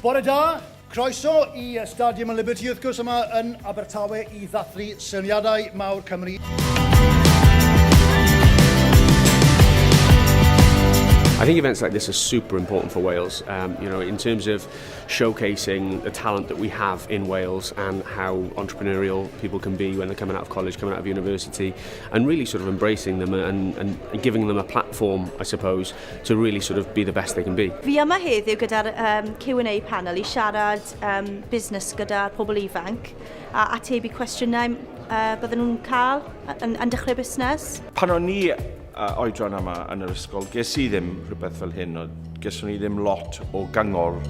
Bore da, croeso i Stadium y Liberty wrth gwrs yma yn Abertawe i ddathlu syniadau mawr Cymru. I think events like this are super important for Wales. Um, you know, in terms of showcasing the talent that we have in Wales and how entrepreneurial people can be when they're coming out of college, coming out of university, and really sort of embracing them and, and giving them a platform, I suppose, to really sort of be the best they can be. Fi yma heddiw gyda'r um, Q&A panel i siarad um, busnes gyda'r pobl ifanc a atebu cwestiynau uh, bydden nhw'n cael yn, yn dechrau busnes. Pan o'n ni a oedran yma yn yr ysgol, ges i ddim rhywbeth fel hyn, o geswn i ddim lot o gyngor.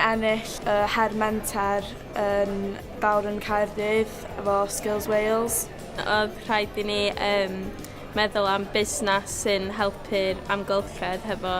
ennill y uh, her menter yn Bawr yn Caerdydd efo Skills Wales. Oedd rhaid i ni um, meddwl am busnes sy'n helpu'r amgylchedd hefo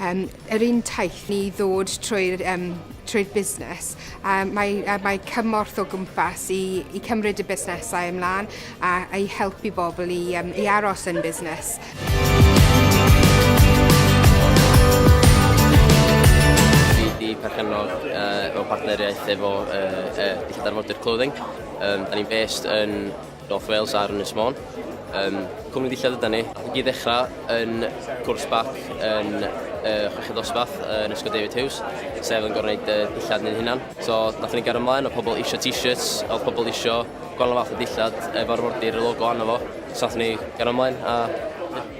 Um, yr un taith ni ddod trwy'r um, trwy busnes, um, mae, uh, mae cymorth o gwmpas i, i cymryd y busnesau ymlaen a, a i helpu bobl i, um, i aros yn busnes. perchennog uh, mewn partneriaeth efo uh, uh, Dillad Arfordir Clothing. Um, da ni'n based yn North Wales ar Ynys Môn. Yym, cwmni ddillad yda ni. Nath i ddechrau yn cwrs bac yn y chweched dosbarth yn Ysgol David Hughes, sef yn gorau gwneud y dillad ni'n hunan. So, nath ni gario ymlaen, oedd pobl eisiau t-shirts, oedd pobl eisiau gwahanol fath o dillad efo arfordir y logo arno fo, so nath ni gario ymlaen a ie.